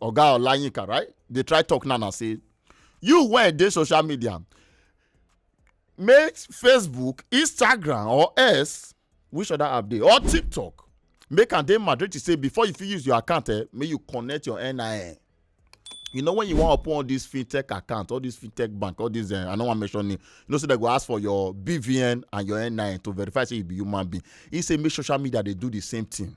oga olayinka right dey try talk now na say you wey dey social media make facebook instagram or else which other app dey or tiktok make am dey mandatory say before you fit use your account eh make you connect your nin you know when you wan open all this fintech account all this fintech bank all this uh, i no wan mention name you know say so they go ask for your bvn and your nin to verify say you be human being he say make social media dey do the same thing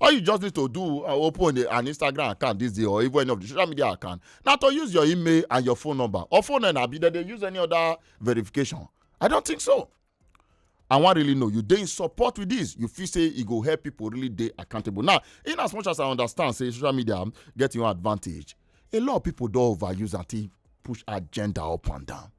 all you just need to do uh, open a, an instagram account this day or even any of the social media account Now to use your email and your phone number or phone and abi dem dey use any other verification i don't think so i wan really know you dey support with this you feel say e go help people really dey accountable now in as much as i understand say social media get your advantage a lot of people don overuse and take push agenda up and down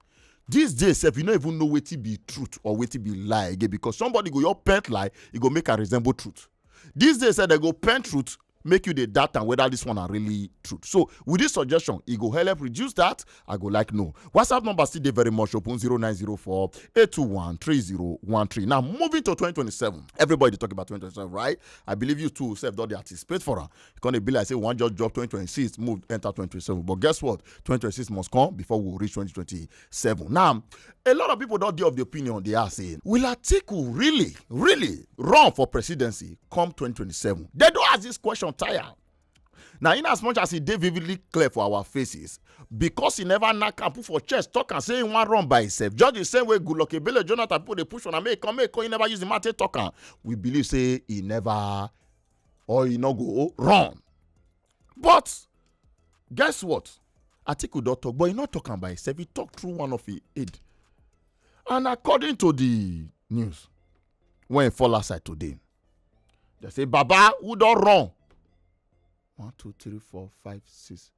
these days sef you no even know wetin be truth or wetin be lie again because somebody go your pent lie e go make am resemble truth these days sef dem go pent truth make you dey doubt am whether this one are really truth so with this suggestion e go help reduce that i go like know whatsapp number still dey very much open 0904 821 3013 now moving to 2027 everybody dey talk about 2027 right i believe you too sef don dey anticipate for am e come dey be like say we wan just drop 2026 move enter 2027 but guess what 2026 must come before we reach 2027 now a lot of people don dey of the opinion they are saying will atiku really really run for presidency come 2027 they don ask this question tire now in as much as e dey vividly clear for our faces because he never knack am put for chest talk and say he wan run by himself just the same way goodluck ebele jonathan people dey push on am make come make come he never use the mouth take talk am we believe say he never or e no go run but guess what atiku don talk but e no talk am by himself e talk through one of him aide and according to the news wey fall outside today they say baba who don run one two three four five six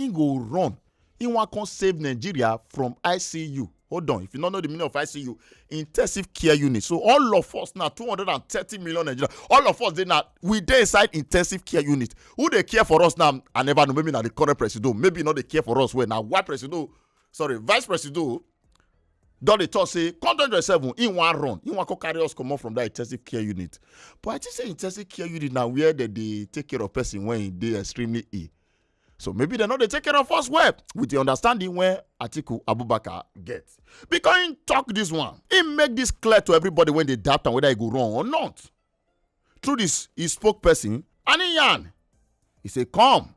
he go run he wan come save nigeria from icu hold on if you no know the meaning of icu intensive care unit so all of us na two hundred and thirty million nigeria all of us dey na we dey inside intensive care unit who dey care for us now i never know maybe na the current presido maybe e no dey care for us well na why presido sorry vice presido don dey talk say come twenty twenty seven he wan run he wan come carry us comot from that intensive care unit but i think say intensive care unit na where dem dey take care of person when e dey extremely ill so maybe dem no dey take care of us well with the understanding wey atiku abubakar get because im talk this one im make this clear to everybody wey dey doubt am whether e go run or not through this e spokesperson and im yarn e say come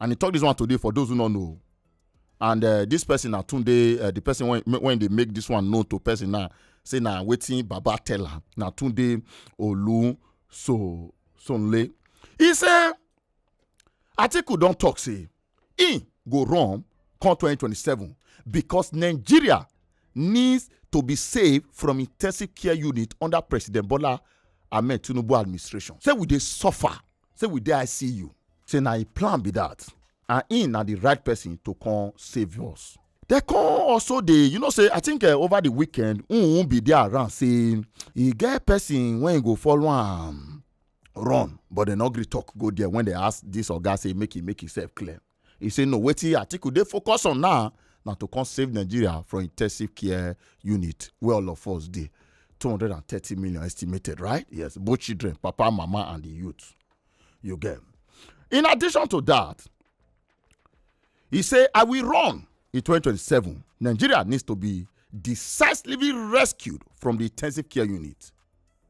and e talk this one today for those who no know and uh, this person na tunde uh, the person when when dey make this one known to person na say na wetin baba tell am na tunde olu so sonle e say atiku don tok say im go run come 2027 because nigeria needs to be saved from intensive care unit under president bola ahmed tinubu administration say we dey suffer say we dey icu say na im plan be that and im na the right person to come save us dem come also dey you know say i think eh, over the weekend um be there around say e get person wey go follow am run but dem no gree talk go there when they ask this oga say make e make himself clear He say no wetin atiku dey focus on now na to come save nigeria from intensive care unit wey all of us dey 230 million estimated right yes both children papa mama and the youth you get in addition to that he say i will run in 2027 nigeria needs to be decisively rescued from the intensive care unit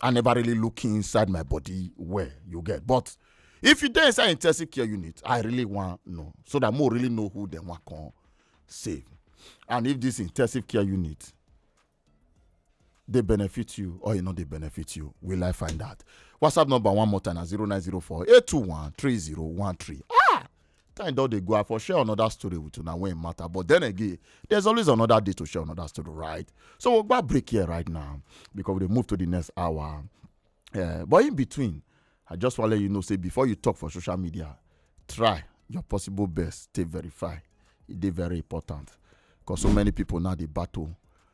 I never really look inside my body well, you get. But if you dey inside intensive care unit, I really want know so that more really know who them want come save. And if this intensive care unit they benefit you or you know they benefit you, will I find out? WhatsApp number one more time at 0904 821 3013. Ah! time don dey go i for share another story with una when e matter but then again there's always another day to share another story right so we'll go break here right now because we dey move to the next hour uh, but in between i just want to let you know say before you talk for social media try your possible best to verify e dey very important because so many people now dey battle